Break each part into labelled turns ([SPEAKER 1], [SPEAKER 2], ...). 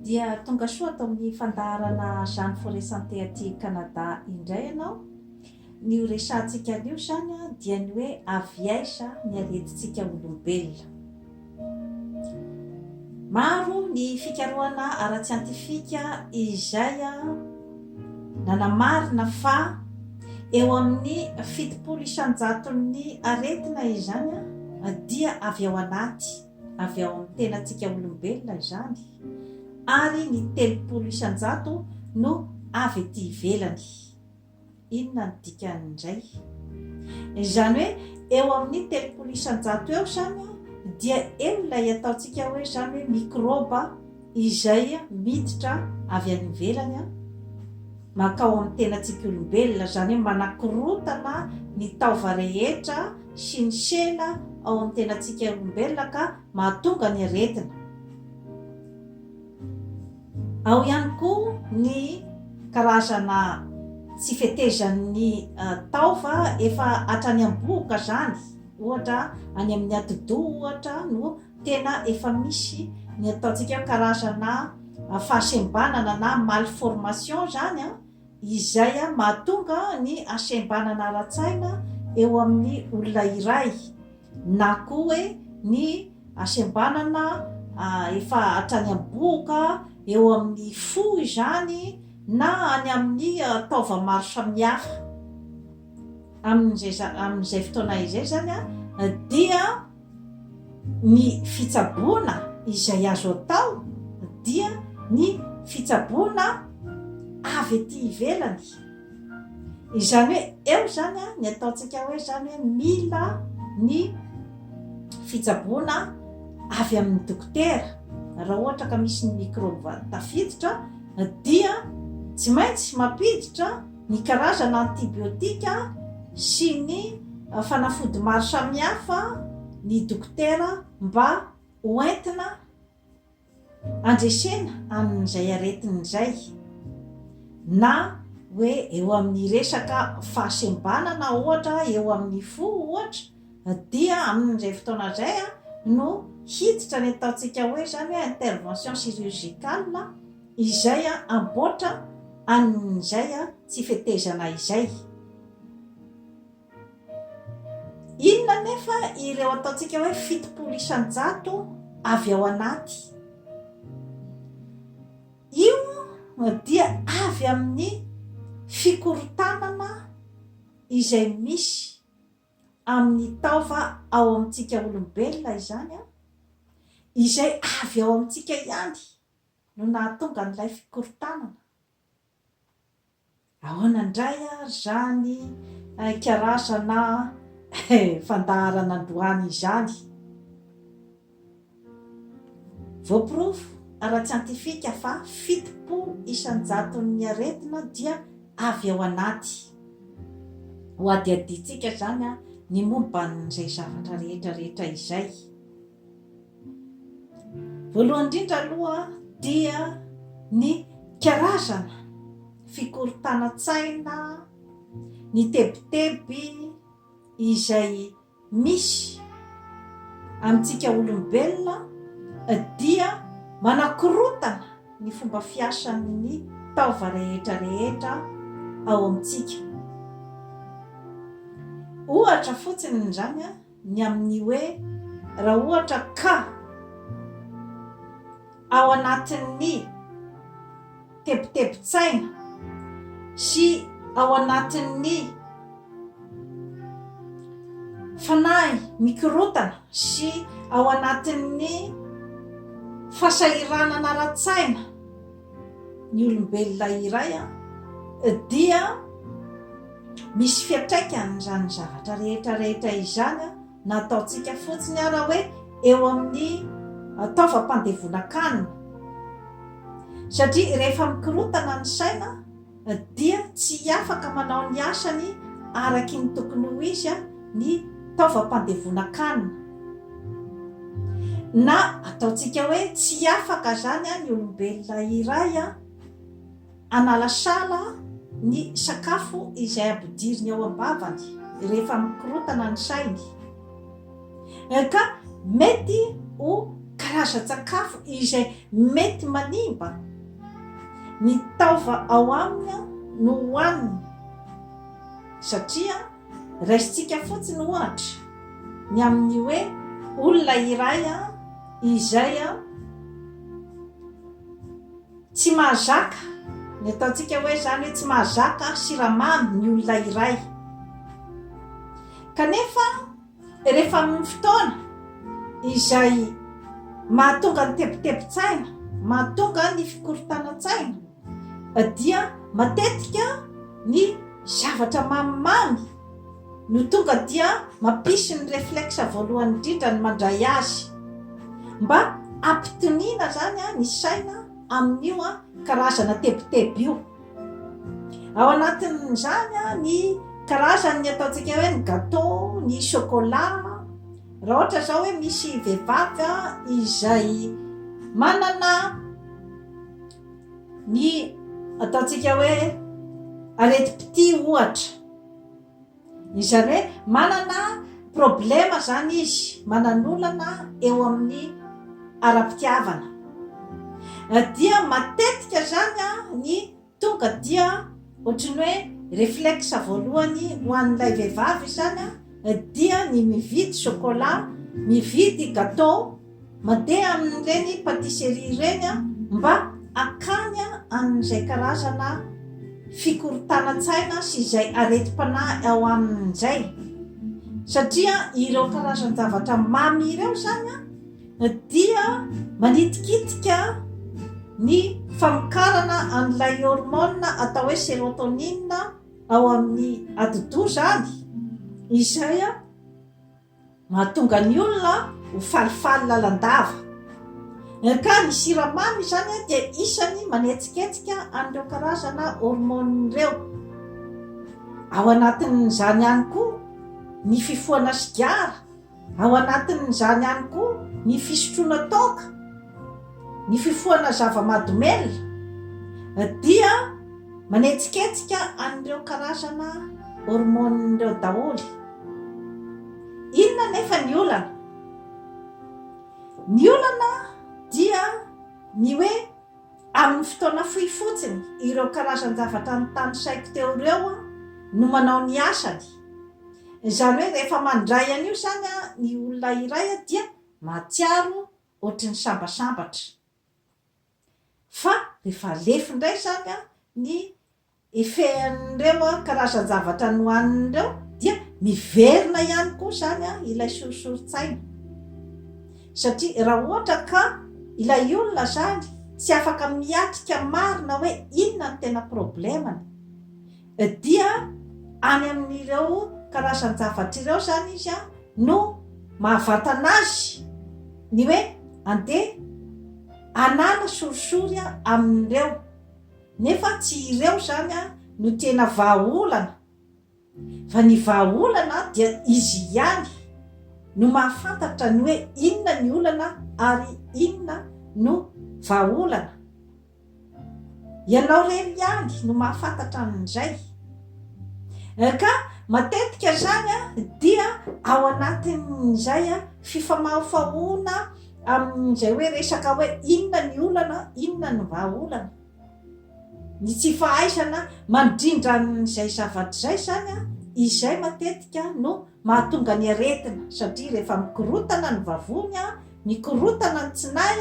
[SPEAKER 1] Dia tonga soa ato amin'ny fandaharana Jeanne Forest Santé aty Canada indray ianao. Ny ho resahantsika anio izany dia ny hoe avy aiza ny aretintsika olombelona. Maro ny fikarohana ara-tsiantifika izay nanamarina fa eo amin'ny fitopolo isan-jaton'ny aretina izany dia avy ao anaty. avy ao amin'ny tenantsika olombelona izany, ary ny telopolo isan-jato no avy ety ivelany. Inona no dikany indray? Izany hoe eo amin'ny telopolo isan-jato eo izany dia eo ilay ataontsika hoe izany hoe mikrôba Izay miditra avy any ivelany mankao amin'ny tenantsika olombelona, izany hoe manakorotana ny taova rehetra sy ny sela ao amin'ny tenantsika olombelona ka mahatonga ny aretina. Ao ihany koa ny karazana tsy fetezan'ny taova efa hatrany am-bohoka izany, ohatra any amin'ny atidoha ohatra no. Tena efa misy ny ataontsika hoe karazana fahasembanana na malformation izany izay mahatonga ny hasembanana ara-tsaina eo amin'ny olona iray na koa hoe ny hasembanana efa hatrany am-bohoka, eo amin'ny fo izany na any amin'ny taova maro samihafa. Amin'izay amin'izay fotoana izay izany dia. Ny fitsaboana izay azo atao dia ny fitsaboana avy ety ivelany. Izany hoe eo izany ny ataontsika hoe izany hoe mila ny fitsaboana avy amin'ny dokotera. Raha ohatra ka misy ny mikrôba tafiditra dia tsy maintsy mampiditra ny karazana antibiotika sy ny fanafody maro samihafa ny dokotera mba ho entina handresena an'izay aretina izay na hoe eo amin'ny resaka fahasembanana ohatra eo amin'ny fo ohatra dia amin'izay fotoana izay no hiditra ny ataontsika hoe izany hoe intervention chirurgicale Izay amboatra an'izay tsy fetezana izay. Inona anefa ireo ataontsika hoe fitopolo isan-jato avy ao anaty? Io dia avy amin'ny fikorontanana izay misy amin'ny taova ao amintsika olombelona izany, izay avy ao amintsika ihany. no nahatonga an'ilay fikorontanana. Ahoana indray ary izany hain-karazana fandaharana androany izany? Voaporofo ara-tsiantifika fa fitopolo isan-jaton'ny aretina dia avy ao anaty. Hohadihadiantsika izany ny momba an'izay zavatra rehetra rehetra izay. Voalohany indrindra aloha dia ny karazana fikorontanan-tsaina, ny tebiteby izay misy amintsika olombelona dia manakorontana ny fomba fiasan'ny taova rehetra rehetra ao amintsika. Ohatra fotsiny izany an! ny amin'ny hoe raha ohatra ka ao anatin'ny tebitebin-tsaina sy ao anatin'ny fanahy mikorotana sy ao anatin'ny fasahiranana ara-tsaina ny olombelona iray dia misy fiantraikany izany zavatra rehetra rehetra izany na ataontsika fotsiny ara hoe eo amin'ny taovam-pandevonan-kanina satria rehefa mikorontana ny saina dia tsy afaka manao ny asany araky ny tokony ho izy ny taovam-pandevonan-kanina. Na ataontsika hoe tsy afaka izany ny olombelona iray hanala sala ny sakafo izay ampidiriny ao am-bavany rehefa mikorotana ny sainy. Ka mety ho karazan-tsakafo izay mety manimba ny taova ao aminy no hohaniny, satria raisintsika fotsiny ohatra ny amin'ny hoe olona iray izay Tsy mahazaka, ny ataontsika hoe izany hoe tsy mahazaka siramamy ny olona iray. Kanefa rehefa amin'ny fotoana izay mahatonga ny tebitebin-tsaina, mahatonga ny fikorontanan-tsaina dia matetika ny zavatra mamimamy no tonga dia mampisy ny reflexe voalohany indrindra ny mandray azy. Mba hampitoniana izany ny saina amin'io karazana tebiteby io. Ao anatin'izany ny karazan'ny ataontsika hoe ny gâteau, ny chocolat. Raha ohatra izao hoe misy vehivavy izay manana ny ataontsika hoe aretim-pitia ohatra. Izany hoe manana problema izany izy, manan'olana eo amin'ny ara-pitiavana. Dia matetika izany ny tonga dia ohatry ny hoe reflexe voalohany ho an'ilay vehivavy izany dia ny mividy chocolat, mividy gateau. Mandeha amin'ireny patisserie ireny aho mba hakany amin'izay karazana fikorontanan-tsaina sy izay aretim-panahy ao aminy izay, satria ireo karazan-javatra mamy ireo izany dia manitikitika ny famokarana an'ilay hormone atao hoe serotonine ao amin'ny atidoha izany, izay. Mahatonga ny olona ho falifaly lalandava. NK, Ny siramamy izany dia isan'ny manetsiketsika an'ireo karazana hormone ireo. Ao anatin'izany ihany koa ny fifohana sigara, ao anatin'izany ihany koa ny fisotroana toaka, ny fifohana zava-mahadomelina dia manetsiketsika an'ireo karazana hormone ireo daholo. Inona anefa ny olana? Ny olana dia ny hoe amin'ny fotoana fohy fotsiny ireo karazan-javatra notanisaiko teo ireo no manao ny asany. Izany hoe rehefa mandray an'io izany ny olona iray dia mahatsiaro ohatry ny sambasambatra. Fa rehefa lefy indray izany ny ifehin'ireo karazan-javatra nohaniny ireo dia miverina ihany koa izany ilay sorisorin-tsaina satria raha ohatra ka ilay olona izany tsy afaka miatrika marina hoe inona no tena problemany dia any amin'ireo karazan-javatra ireo izany izy no mahavantana azy ny hoe andeha hanala sorisory amin'ireo Nefa tsy ireo izany no tena vahaolana fa ny vahaolana dia izy ihany no mahafantatra ny hoe inona ny olana ary inona no vahaolana. Ianao irery ihany no mahafantatra an'izay. Ka matetika izany dia ao anatin'izay fifamahofahoana Amin'izay hoe resaka hoe inona ny olana, inona ny vahaolana, ny tsy fahaizana mandrindra an'izay zavatra izay izany, izay matetika no mahatonga ny aretina satria rehefa mikorotana ny vavony, mikorotana ny tsinay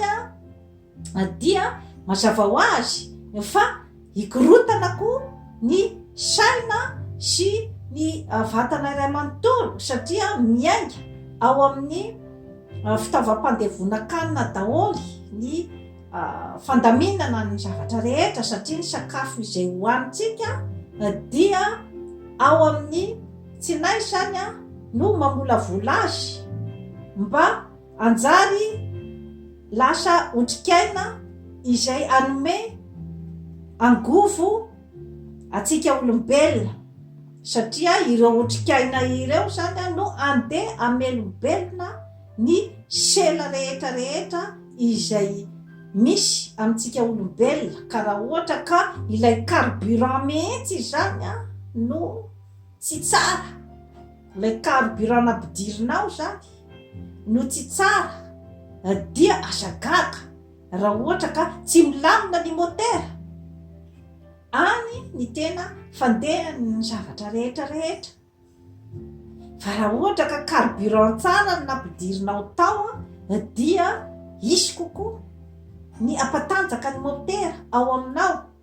[SPEAKER 1] dia mazava ho azy fa Hikorontana koa ny saina sy ny vatana iray manontolo satria miainga ao amin'ny fitaovam-pandevonan-kanina daholo ny fandaminana ny zavatra rehetra satria ny sakafo izay hohanintsika dia ao amin'ny tsinay izany no mamolavola azy mba Hanjary lasa otrikaina izay hanome angovo antsika olombelona, satria ireo otrikaina ireo izany no handeha hamelombelona ny sela rehetra rehetra izay misy amintsika olombelona, ka raha ohatra ka ilay carburant mihitsy izany no tsy tsara Ilay carburant nampidirinao izany no tsy tsara dia aza gaga raha ohatra ka tsy milamina ny motera. Any ny tena fandehan'ny zavatra rehetra rehetra. Fa raha ohatra ka carburant tsara no nampidirinao tao dia hisy kokoa ny hampatanjaka ny motera ao aminao.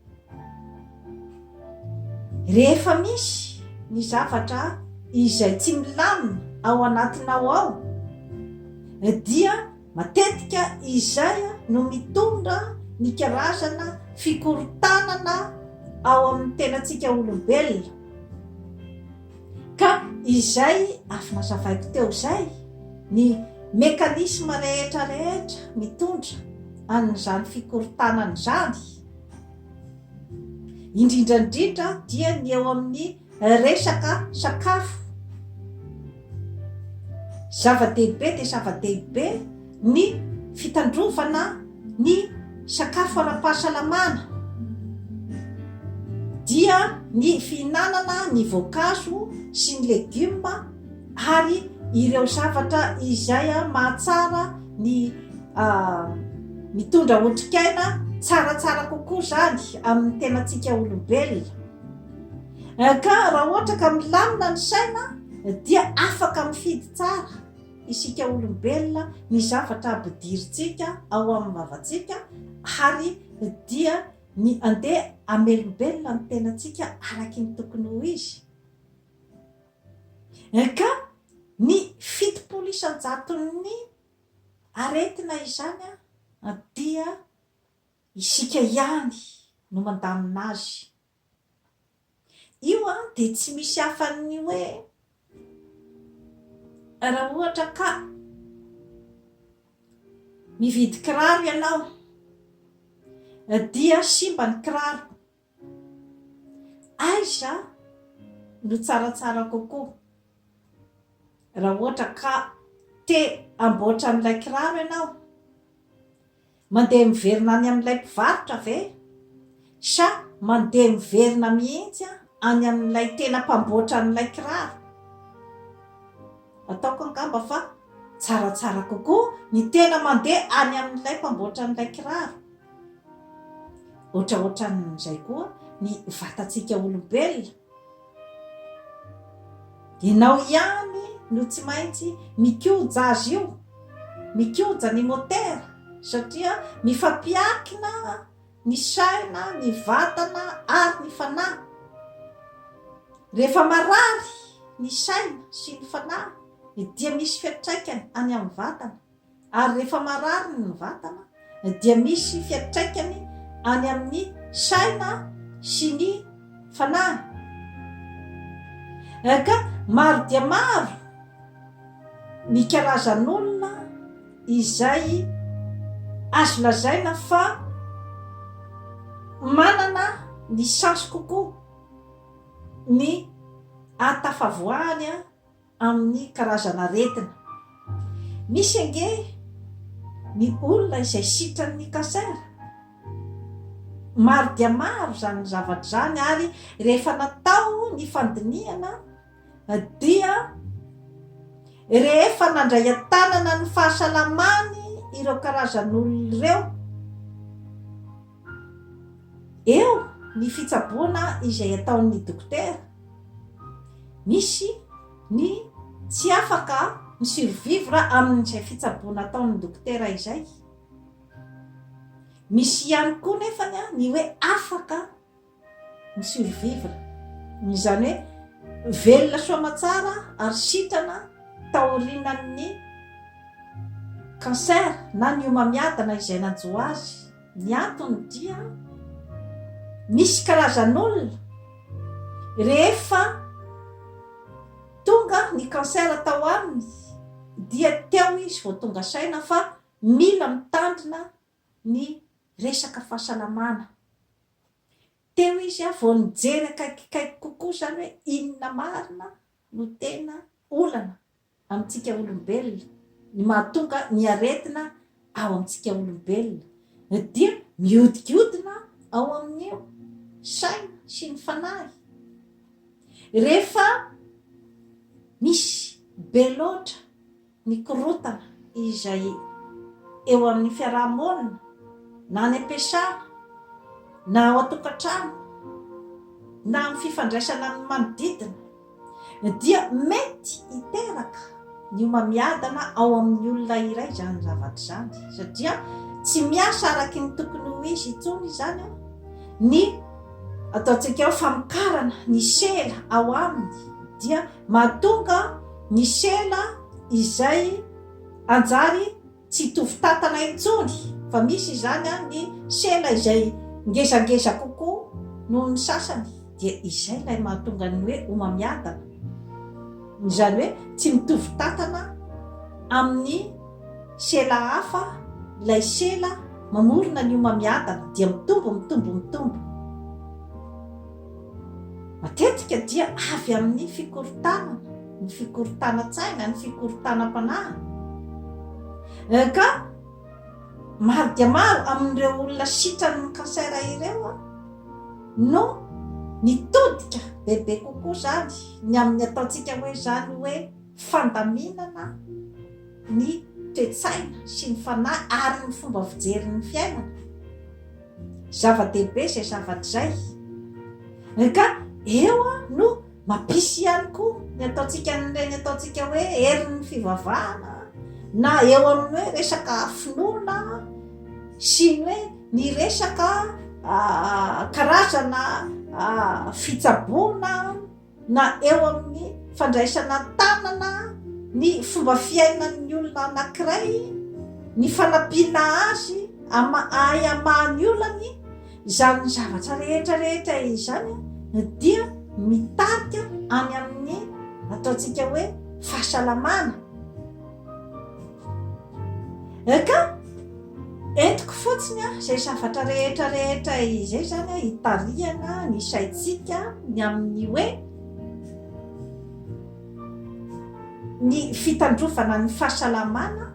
[SPEAKER 1] Rehefa misy ny zavatra izay tsy milamina ao anatinao ao dia matetika izay no mitondra ny karazana fikorontanana ao amin'ny tenantsika olombelona. Ka izay avy nazavaiko teo izay ny mécanisme rehetra rehetra mitondra an'izany fikorontanana izany. indrindra indrindra dia ny eo amin'ny resaka sakafo zava-dehibe dia zava-dehibe ny fitandrovana ny sakafo ara-pahasalamana dia ny fihinanana ny voankazo sy ny legioma ary ireo zavatra izay mahatsara ny mitondra otrikaina tsaratsara kokoa izany amin'ny tenantsika olombelona. Ka raha ohatra ka milamina ny saina dia afaka mifidy tsara isika olombelona ny zavatra ampidirintsika ao amin'ny vavantsika ary dia ny andeha amelombelona ny tenantsika araky ny tokony ho izy. Ka ny fitopolo isan-jaton'ny aretina izany dia isika ihany no mandamina azy. Io dia tsy misy afa-ny hoe raha ohatra ka mividy kiraro ianao dia simba ny kiraro. Aiza no tsaratsara kokoa? Raha ohatra ka te hamboatra an'ilay kiraro ianao, mandeha miverina any amin'ilay mpivarotra ve? Sa mandeha miverina mihitsy any amin'ilay tena mpamboatra an'ilay kiraro? Ataoko angamba fa tsaratsara kokoa ny tena mandeha any amin'ilay mpamboatra an'ilay kiraro. Ohatraohatran'izay koa ny vatantsika olombelona. Ianao ihany no tsy maintsy mikoja azy io, mikoja ny motera satria mifampiankina ny saina, ny vatana ary ny fanahy. Rehefa marary ny saina sy ny fanahy dia misy fiantraikany any amin'ny vatana. ary rehefa marary ny vatana dia misy fiantraikany any amin'ny saina sy ny fanahy. Ka maro dia maro ny karazan'olona izay azo lazaina fa manana ny chance kokoa ny ahatafavoahany amin'ny karazan'aretina. Misy ange ny olona izay sitran'ny cancer. Maro dia maro izany zavatra izany ary rehefa natao ny fandinihana dia rehefa nandray an-tanana ny fahasalamany ireo karazan'olona ireo, Eo ny fitsaboana izay ataon'ny dokotera. Misy ny tsy afaka mi-survivre amin'izay fitsaboana ataon'ny dokotera izay. Misy ihany koa nefany ny hoe afaka ny survivre, izany hoe velona soa aman-tsara ary sitrana taorianan'ny cancer na ny homamiadana izay nanjo azy. Ny antony dia misy karazan'olona rehefa tonga ny cancer tao aminy dia teo izy vao tonga saina fa mila mitandrina ny resaka fahasalamana. Teo izy a, vao nijery akaikikaiky kokoa izany hoe inona marina no tena olana amintsika olombelona, ny mahatonga ny aretina ao amintsika olombelona, dia mihodinkodina ao amin'ny saina sy ny fanahy. Rehefa misy be loatra ny korontana izay eo amin'ny fiaraha-monina na any am-piasana na ao an-tokantrano na amin'ny fifandraisana amin'ny manodidina dia mety hiteraka ny homamiadana ao amin'ny olona iray izany zavatra izany satria tsy miasa araky ny tokony ho izy intsony izany ny ataontsika hoe famokarana ny sela ao aminy dia Mahatonga ny sela izay hanjary tsy hitovy tantana intsony, fa misy izany ny sela izay ngezangeza kokoa noho ny sasany, dia izay ilay mahatonga ny hoe homamiadana, izany hoe tsy mitovy tantana amin'ny sela hafa ilay sela mamorona ny homamiadana, dia mitombo, mitombo, mitombo. Matetika dia avy amin'ny fikorontanana, ny fikorontanan-tsaina, ny fikorontanam-panahy. Ka maro dia maro amin'ireo olona sitran'ny cancer ireo no nitodika bebe kokoa izany ny amin'ny ataontsika hoe izany hoe fandaminana ny toe-tsaina sy ny fanahy ary ny fomba fijerin'ny fiainana. Zava-dehibe izay zavatra izay. Ry ka eo no mampisy ihany koa ny ataontsika an'ireny ataontsika hoe herin'ny fivavahana na eo amin'ny hoe resaka finoana sy ny hoe ny resaka ah, karazana ah, fitsaboana na eo amin'ny fandraisana an-tanana ny fomba fiainan'ny olona anankiray, ny fanampiana azy hahay hamaha ny olany, izany zavatra rehetra rehetra izany dia mitarika any amin'ny ataontsika hoe fahasalamana. Ka. Entiko fotsiny izay zavatra rehetra rehetra izay izany hitarihana ny saintsika ny amin'ny hoe ny fitandrovana ny fahasalamana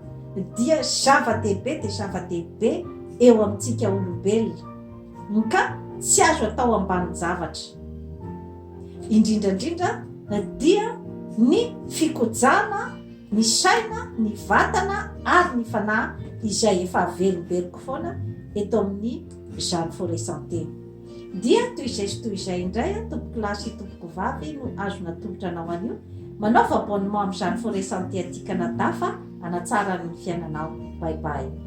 [SPEAKER 1] dia zava-dehibe dia zava-dehibe eo amintsika olombelona ka tsy azo atao ambanin-javatra. Indrindra indrindra dia ny fikojana ny saina, ny vatana ary ny fanahy izay efa averimberiko foana eto amin'ny Jeanne Forest Santé. Dia toy izay sy toy izay indray an, tompoko lahy sy tompoko vavy no azo natolotra anao anio, manaova abonnement amin'ny Jeanne Forest Santé aty Canada fa hanatsara ny fiainanao. Bye bye.